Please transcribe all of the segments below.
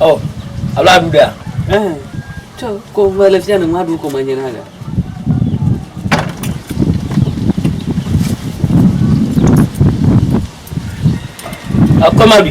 Oh, alo aɖu ɖea? Eh, tsɔ ko ʋe le fia ne ŋu aɖu ko manye na ɖe. Akɔ ma bi.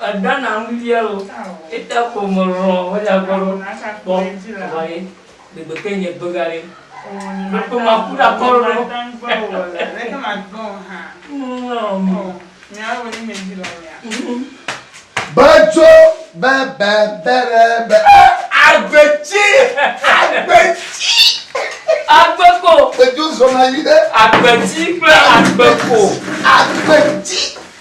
Èɖa na nu via o. Eta ko me lɔ̃ me dza gbɔ ɖo kpɔ eʋa ye de gbe ke nye gbe ga ɖe. Ɖo kpe ma ku ɖa kɔ ɖo. Be dzo be be be be be eh agbe tsi agbe tsi. Agbe ko. Be dzo zɔna yi ɖe. Agbe tsi kple agbe ko. Agbe tsi.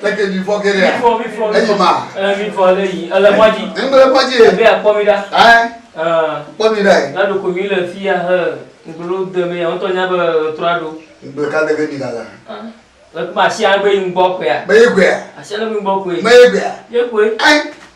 Teke mi fɔ ke ɖe. Mi fɔ mi fɔ. Eyi ma. Ɛ mi fɔ le yi. Ele mɔ dzi. Ŋgbe le mɔ dzi. Ebe akpɔ mi ɖa. Ɛ. Kpɔ mi ɖa yi. Na ɖoko mi le fi ya he. Ŋgbe ɖo de me ya. Ŋtɔ nya be trɔa ɖo. Ŋgbe ka de ke mi gaga. Ɛ kuma asia gbe yi ŋgbɔ koe ya. Be yi koe ya. Asia gbe yi ŋgbɔ koe. Me yi koe ya. Ye koe. Ɛ.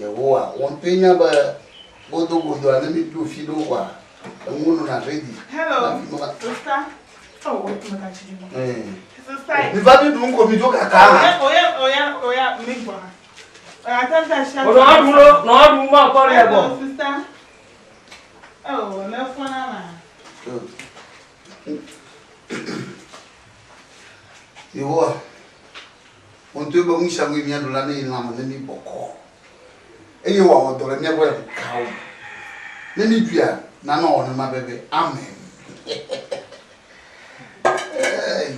Yehowa ŋutɔe nya be godogodoa ne míɖo fi ɖewo koa, enuwo nɔna redi. Miva miɖu nu ko midzo kaka hã. Yehowa. Wòɖoe be nu sia nue míaɖu la neye lãme ne mí bɔkɔ, eye wòawɔ dɔ le mía gbɔ le ŋu kawo me. Ne mí ɖuia, na nɔwɔ nenema be be. Amen. Hey.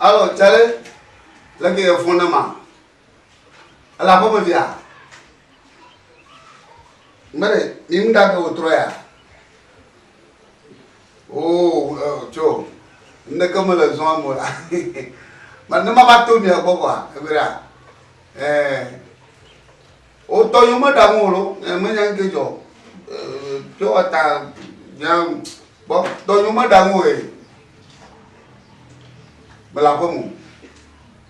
Alo, Charlie, leke yɛ fon na ma? Ele aƒe me via? Mene, ni ŋu ɖa ke wòtrɔ ya? Oo, eh, tso, ŋɖeke mele zɔa mo la. Ma ne mava to mia gbɔ kɔa, ebe ɖa. Eh, wotɔ yɔ meɖaŋu o lo, eh, menya ŋke dzɔ. Eh, tso ata, nya, gbɔ, tɔ yɔ meɖaŋu o ye. Mele aƒe me.